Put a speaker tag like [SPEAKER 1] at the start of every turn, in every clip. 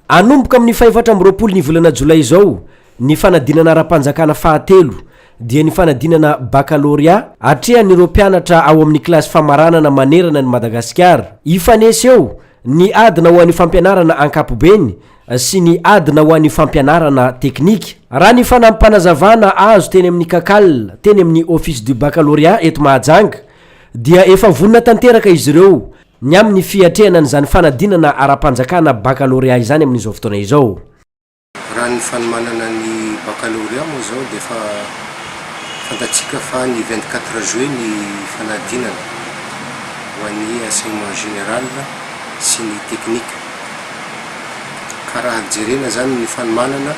[SPEAKER 1] Hanomboka amin'ny fahefatra amby roapolo ny volana jolay izao ny fanadinana ara-panjakana fahatelo, dia ny fanadinana bakalorea atrehan'ireo mpianatra ao amin'ny kilasy famaranana manerana an'i Madagasikara. Hifanesy eo ny adina ho an'ny fampianarana ankapobeny sy ny adina ho an'ny fampianarana teknika. Raha ny fanampanazavana azo teny amin'ny Cacal, teny amin'ny Office du Baccalauréat eto Mahajanga, dia efa vonona tanteraka izy ireo, ny amin'ny fiatrehana an'izany fanadinana ara-panjakana bakalôrea izany amin'izao fotoana izao. Raha ny
[SPEAKER 2] fanomanana ny bakalôrea moa izao dia efa fantatsika fa ny vingt quatre juillet ny fanadinana ho an'ny enseignement général sy ny technique ka raha jerena izany ny fanomanana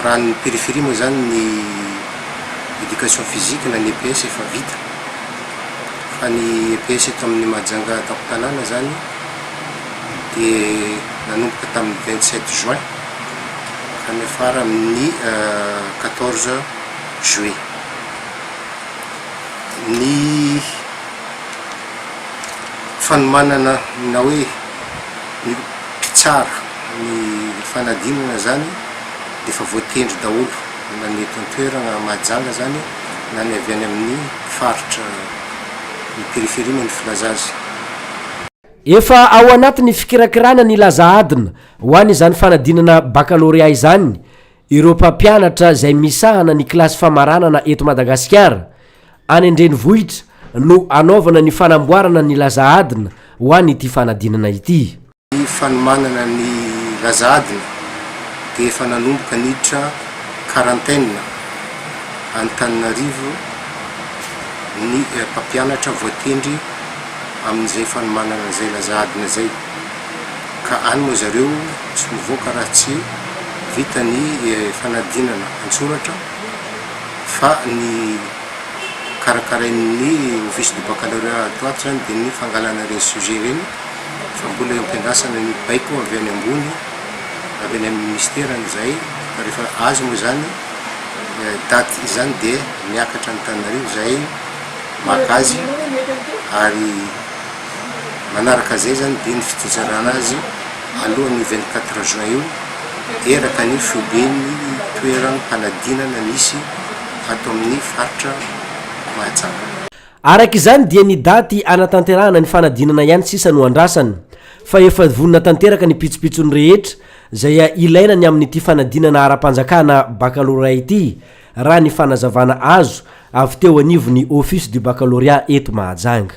[SPEAKER 2] raha ny périphérie moa izany ny éducation physique na ny EPS efa vita Fa ny EPS eto amin'ny Mahajanga an-tampon-tanàna izany dia nanomboka tamin'ny vingt sept juin ka niafara amin'ny quatorze juillet. Ny fanomanana na hoe ny mpitsara ny fanadinana izany dia efa voatendry daholo. nanety an-toerana Mahajanga izany na ny avy any amin'ny faritra ny périphérie moa ny filaza azy.
[SPEAKER 1] Efa ao anatin'ny fikirakirana ny laza adina ho an' izany fanadinana bakalorea izany ireo mpampianatra izay misahana ny kilasy famaranana eto Madagasikara. Any an-drenivohitra no hanaovana ny fanamboarana ny laza adina ho an'ity fanadinana ity. Ny fanomanana
[SPEAKER 2] ny laza adina dia efa nanomboka niditra quarantaine Antananarivo ny mpampianatra voatendry amin'izay fanomanana izay laza adina izay ka any moa zareo tsy ho mivoaka raha tsy vita ny fanadinana an-tsoratra fa ny karakarain'ny office du baccalauréat ato ho ato izany dia ny fangalana ireny sujet ireny fa mbola iampiandrasana ny baiko avy any ambony, avy any amin'ny minisitera izay, fa rehefa azo moa izany daty izany dia miakatra an'Antananarivo izahay maka azy ary manaraka izay izany dia ny fitizarana azy alohan'io vingt quatre juin io eraka ny foiben'ny toeram-panadinana misy ato amin'ny faritra Mahajanga. Araka izany
[SPEAKER 1] dia ny daty hanatanterahana ny fanadinana ihany sisa no andrasana, fa efa vonona tanteraka ny pitsopitsony rehetra izay ilaina ny amin'ity fanadinana ara-panjakana baccalauréat ity, raha ny fanazavana azo avy teo anivon'ny Office du Baccalauréat eto Mahajanga.